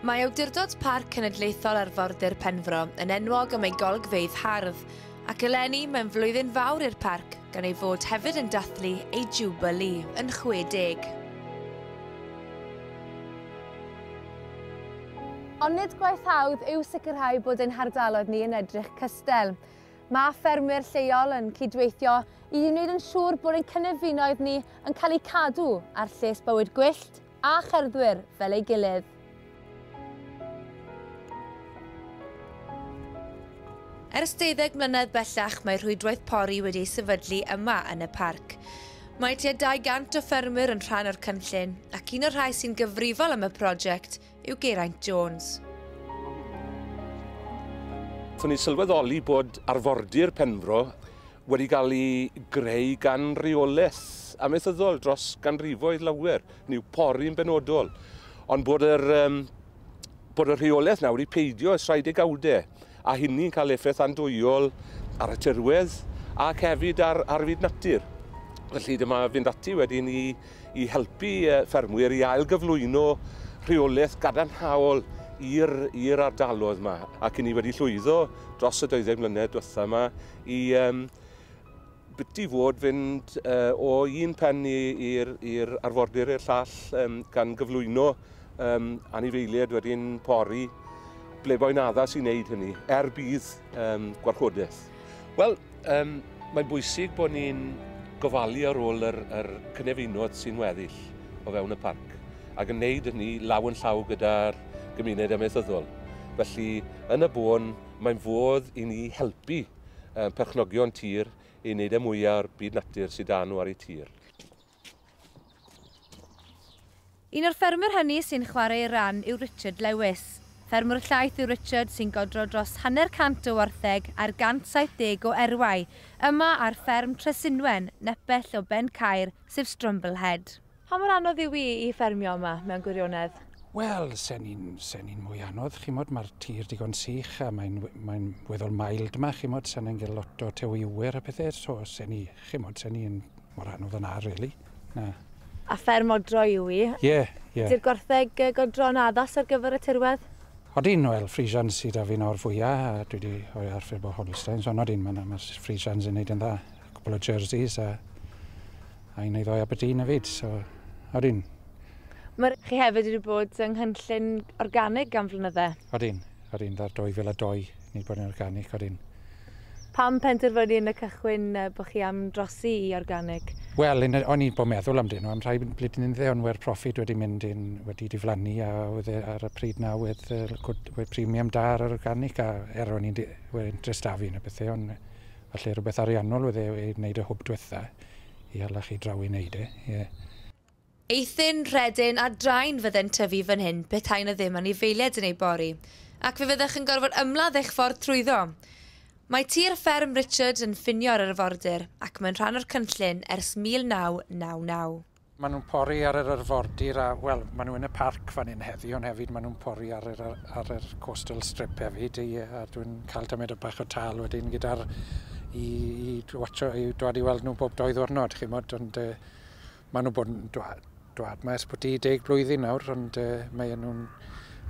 Mae Awdurdod Parc Cenedlaethol Arfordir Penfro yn enwog am ei golygfeydd hardd, ac eleni mae'n flwyddyn fawr i'r parc gan ei fod hefyd yn dathlu ei Jubilee yn 60. Ond nid gwaith hawdd yw sicrhau bod ein hardaloedd ni yn edrych cystel. Mae ffermwyr lleol yn cydweithio i wneud yn siŵr bod ein cynefinoedd ni yn cael eu cadw a'r lles bywyd gwyllt a cherddwyr fel ei gilydd. Ers deuddeg mlynedd bellach mae rhwydwaith pori wedi ei sefydlu yma yn y parc. Mae tua 200 o ffermwyr yn rhan o'r cynllun ac un o'r rhai sy'n gyfrifol am y prosiect yw Geraint Jones. Fy ni'n sylweddoli bod arfordir Penfro wedi cael ei greu gan reolaeth amaethyddol dros ganrifoedd lawer, niw pori'n benodol, ond bod yr, um, bod y rheolaeth nawr wedi peidio ers rhai degawdau, a hynny'n cael effaith andwyol ar y tirwedd ac hefyd ar, ar fyd natur. Felly dyma fynd ati wedyn i i helpu ffermwyr i ail-gyflwyno rheolaeth gadarnhaol i'r ardaloedd yma, ac i ni wedi llwyddo dros y 20 mlynedd diwetha' yma i biti fod fynd o un pen i'r arfordir i'r llall, gan gyflwyno anifeiliaid wedi'n pori, ble bo'n addas i wneud hynny, er budd gwarchodaeth. Wel, Um, mae'n bwysig bod ni'n gofalu ar ôl yr, yr cynefinoedd sy'n weddill o fewn y parc ac yn wneud hynny law yn llaw gyda'r gymuned amaethyddol. Felly, yn y bôn, mae'n fodd i ni helpu perchnogion tir i wneud y e mwyaf o'r byd natur sydd dan nhw ar eu tir. Un o'r ffermwyr hynny sy'n chwarae ei ran yw Richard Lewis. Ffermwr llaeth yw Richard sy'n godro dros hanner cant o wartheg ar 170 o erwau yma ar fferm Tresinwen, nepell o Ben Caer, sef Strumble Head. Pa mor anodd yw i i ffermio yma, mewn gwirionedd? Wel, se'n ni'n se'n ni'n mwy anodd, chimod, mae'r tir digon sych a mae'n mae'n weddol mild 'ma, chimod, se'n ni'n gael lot o tewiwyr a pethe, so se'n ni, chimod, se'n ni'n Mor anodd yna, really. Na. A fferm odro yw i. Ie, ie. Ydy'r gwartheg yy godro'n addas ar gyfer y tirwedd? Odyn, wel, Friesians sydd 'da fi nawr fwya, a dwi 'di rhoi ar ffurf o Holsteins, ond odyn, ma' ma' Friesians yn neud yn dda. Cwpwl o Jerseys a a un neu ddou Aberdeen hefyd, so odyn. Ma' chi hefyd wedi bod yng nghynllun organig am flynydde. Odyn, odyn, ar 2002 ni 'di bod yn organic, odyn. Pam penderfynu yn y cychwyn bod chi am drosi i organig? Wel, yn y, o'n i bo meddwl amdyn nhw am rhai bludyn ynddo, ond we'r profit wedi mynd yn, wedi diflannu a oedd e ar y pryd na oedd y cwt, oedd premium da ar yr organic a er o'n i'n, oedd interest da fi yn y pethau ond falle rhywbeth ariannol oedd e i wneud y hwb diwetha i hala chi draw i wneud e, ie. Eithin, Rhedyn a Drain fydde'n tyfu fan hyn petai 'na ddim anifeiliaid yn eu bori, ac fe fyddech yn gorfod ymladd eich ffordd trwyddo. Mae tir fferm Richard yn ffinio â'r arfordir ac mae'n rhan o'r cynllun ers 1999. Maen nhw'n pori ar yr arfordir a, wel, maen nhw yn y parc fan hyn heddi, ond hefyd maen nhw'n pori ar yr ar yr coastal strip hefyd, ie, a dwi'n cael tymhedau bach o tâl wedyn gyda'r i i watsio i dwad i weld nhw bob dou ddiwrnod, chimod, ond yy Maen nhw'n bod yn dwad, dwad mae ers bod i deg blwyddyn nawr, ond uh, mae nhw'n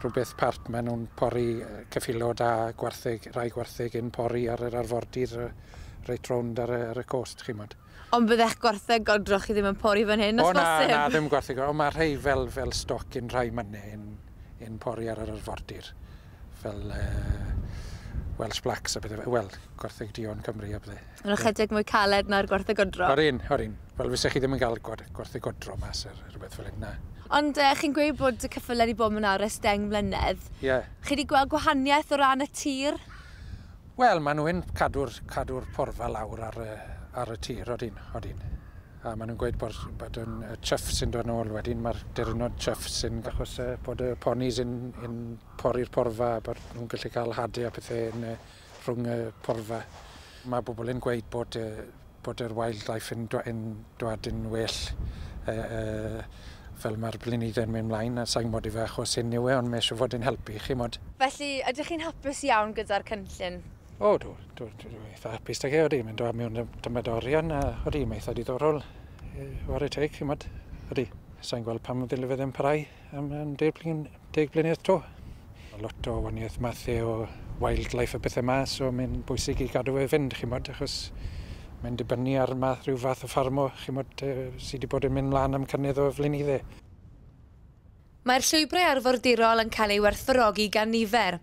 rhywbeth part, maen nhw'n pori cyffilo da gwartheg, rai gwartheg yn pori ar yr arfordir reit rownd ar, ar y cost, chi'n modd. Ond byddech gwartheg godroch chi ddim yn pori fan hyn, os o, na, bosib? na, ddim gwartheg, ond mae rhai fel, fel stoc yn rhai mynnau yn, yn pori ar yr arfordir. fel uh, Welsh Blacks a bethau, wel, gwartheg Dion Cymru a bethau. Yn ychydig mwy caled na'r gwartheg odro? O'r un, o'r un. Wel, fysa chi ddim yn cael gwartheg odro mas ar rhywbeth fel hyn, na. Ond uh, chi'n gweud bod y cyffyle wedi bod mewn ares deng mlynedd. Ie. Yeah. Chi wedi gweld gwahaniaeth o ran y tir? Wel, maen nhw'n cadw'r cadw porfa lawr ar, ar y tir, odyn, odyn. A maen nhw'n gweud bod, bod yn y chuff sy'n dod nôl wedyn, mae'r derynod chuff sy'n achos uh, bod y ponis yn, yn pori'r porfa, bod nhw'n gallu cael hadu a pethau yn, uh, rhwng y porfa. Mae bobl yn gweud bod, uh, bod yr wildlife yn, dwa, yn dwad yn well uh, uh, fel mae'r blynyddoedd yn mynd mlaen, a sa'n gwybod ife achos hyn yw e, ond mae eisiau fod yn helpu chi mod. Felly, ydych chi'n hapus iawn gyda'r cynllun? O, dw, dw, dw, dw eitha hapus da ge, oeddi, mae'n dod mewn dymed orion, a oeddi, mae'n eitha diddorol, e, ware teg, chi'n modd, oeddi, sa'n gweld pam ddylai fe ddim parai am, am deg, blin, deg blynedd to. Lot o waniaeth mathau o wildlife a bethau yma, so mae'n bwysig i gadw fe fynd, chi'n modd, achos mae'n dibynnu ar math, rhyw fath o ffarmo, chi'n modd, e, sydd wedi bod yn mynd mlaen am cynnydd o flynydde. Mae'r llwybrau arfordirol yn cael eu werthfawrogi gan nifer,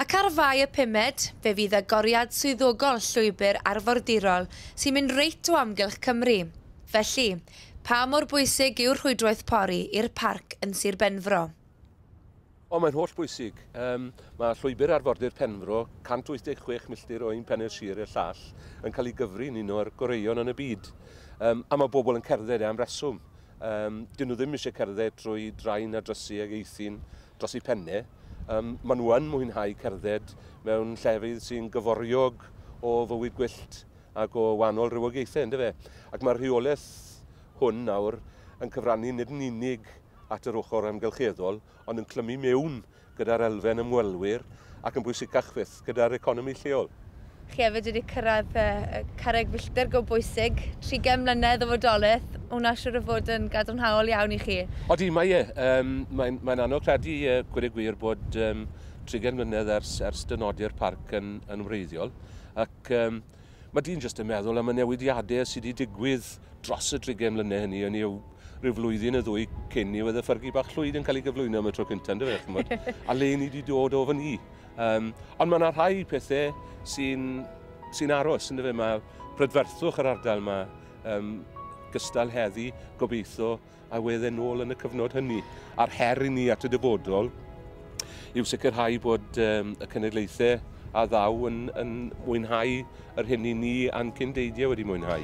ac ar Fai y Pumed, fe fydd agoriad swyddogol llwybr arfordirol sy'n mynd reit o amgylch Cymru. Felly, pa mor bwysig yw'r rhwydwaith pori i'r parc yn Sir Benfro? O, mae'n holl bwysig. Mae Llwybr Arfordir Penfro, 186 milltir o un pen i'r sir i'r llall, yn cael ei gyfri yn un o'r goreuon yn y byd. A mae pobl yn cerdded e am reswm. Um, dyn nhw ddim eisiau cerdded trwy draen a drysu ag eithin dros eu penne. Um, maen nhw yn mwynhau cerdded mewn llefydd sy'n gyforiog o fywyd gwyllt ac o wahanol rhywogaethau, ynddo fe? Ac mae'r rheolaeth hwn nawr yn cyfrannu nid yn unig at yr ochr amgylcheddol, ond yn clymu mewn gyda'r elfen ymwelwyr ac yn bwysicach fyth, gyda'r economi lleol. Chi hefyd wedi cyrraedd carreg filltir go bwysig, trigem mlynedd o fodolaeth, hwnna siŵr o fod yn gadarnhaol iawn i chi. Odi, mae e. Yym, mae'n mae'n anodd credu, gweud y gwir, bod yym trigem mlynedd ers ers dynodi'r parc yn yn wreiddiol, ac yym Mae dyn jyst yn meddwl am y newidiadau sydd wedi digwydd dros y drigen mlynedd hynny, hynny yw rhyw flwyddyn y ddwy cyn i oedd y ffyrgu bach llwyd yn cael ei gyflwyno am y tro cyntaf, ynddo fe, chymod, a le ni wedi dod o fan ni. Um, ond mae yna rhai pethau sy'n sy aros, ynddo fe, mae prydferthwch yr ardal yma, um, gystal heddi, gobeithio, a oedd e'n ôl yn y cyfnod hynny. A'r her i ni at y dyfodol yw sicrhau bod um, y cenedlaethau a ddaw yn, yn mwynhau yr hyn i ni a'n cyndeidiau wedi mwynhau.